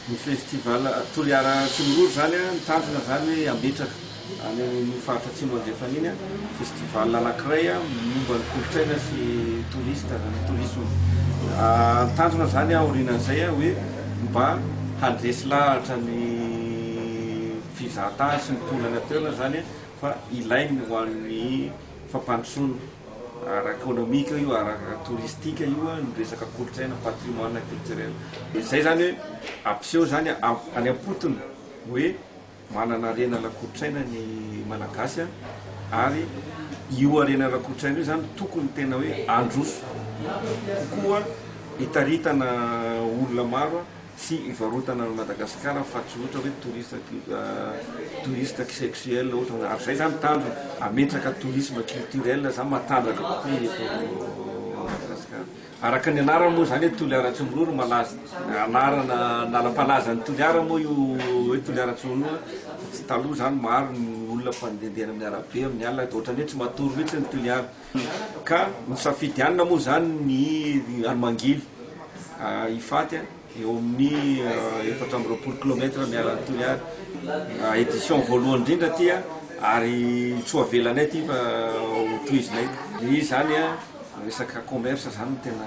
Ny festival Toliara Tsimororo izany an, ny tanjona izany hoe hametraka any amin'iny faritra Atsimo Andrefana iny an, festival anankiray momba ny kolontsaina sy touriste, ny tourisme. Ny tanjona izany aorianan'izay an, hoe mba handresy lahatra ny fizahan-tany sy ny mponina any an-toerana izany an, fa ilainy ho an'ny fampandrosoana ara-ekonomika io, ara-toristika io, ny resaka kolontsaina, patrimoine culturel. Dia izay izany hoe ampiseho izany any am-potony hoe manana harena ara-kolontsaina ny Malagasy ary io harena ara-kolontsaina io izany tokony tena hoe handroso kokoa hitaritana olona maro. Tsy hivarotana an'i Madagasikara fa tsy ohatra hoe touristes touristes sexuels ohatra hoe ary zay zany ny tanjona hametraka tourisme culturel zany matanjaka kokoa eto Madagasikara. Araka ny anarany moa zany hoe Toliara Tsimiroro malaza anarana anarampalaza an'i Toliara moa io hoe Toliara Tsimiroro fa tsy taloha zany maro ny olona mpandehandeha eny amin'ny arabe amin'ny alina ohatra ny hoe tsy matory mihitsy ny Toliara. Ka misafidy hanina moa izany ny any Mangily, Ifaty, eo amin'ny efatra amby roapolo kilometatra miala an'i Toliary. Edition voalohany indrindra ity ary tsy ho avelanay ity fa ho tohizinay. Dia izy izany, resaka commerce izany no tena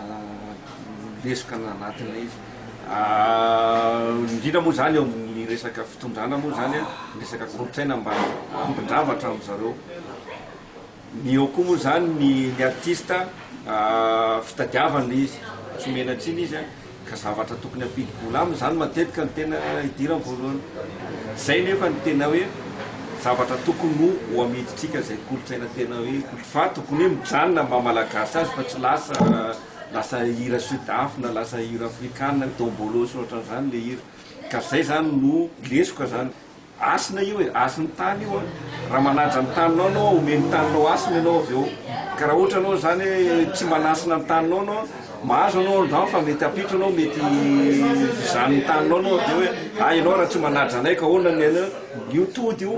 lesoka nanatinay izy. Indrindra moa izany eo amin'ny resaka fitondrana moa izany, ny resaka kolontsaina mba hampindravatra an-dry zareo. Ny eo koa moa zany ny ny artiste fitadiavana ilay izy tsy omena tsiny izy an! ka zavatra tokony hampidi-bola aminy zany matetika no tena idirany voalohany zay nefa ny tena hoe zavatra tokony ho ho amidintsika zay kolontsaina tena hoe fa tokony hoe mijanona maha malagasy azy fa tsy lasa lasa hira sud af na lasa hira afrikana dombolo sy ohatran'izany ilay hira ka zay zany no lesoka zany Hasina io e, hasin'ny tany io an! Raha manaja ny taninao ianao an, omeny ny taninao hasina ianao avy eo. Ka raha ohatra ianao izany hoe tsy manasina ny taninao ianao an, mahazo ianao angamba fa mety hampitso ianao, mety hizany ny taninao ianao avy eo hoe, hay ianao raha tsy manaja anay ka ahoana ny anao? Io tody io.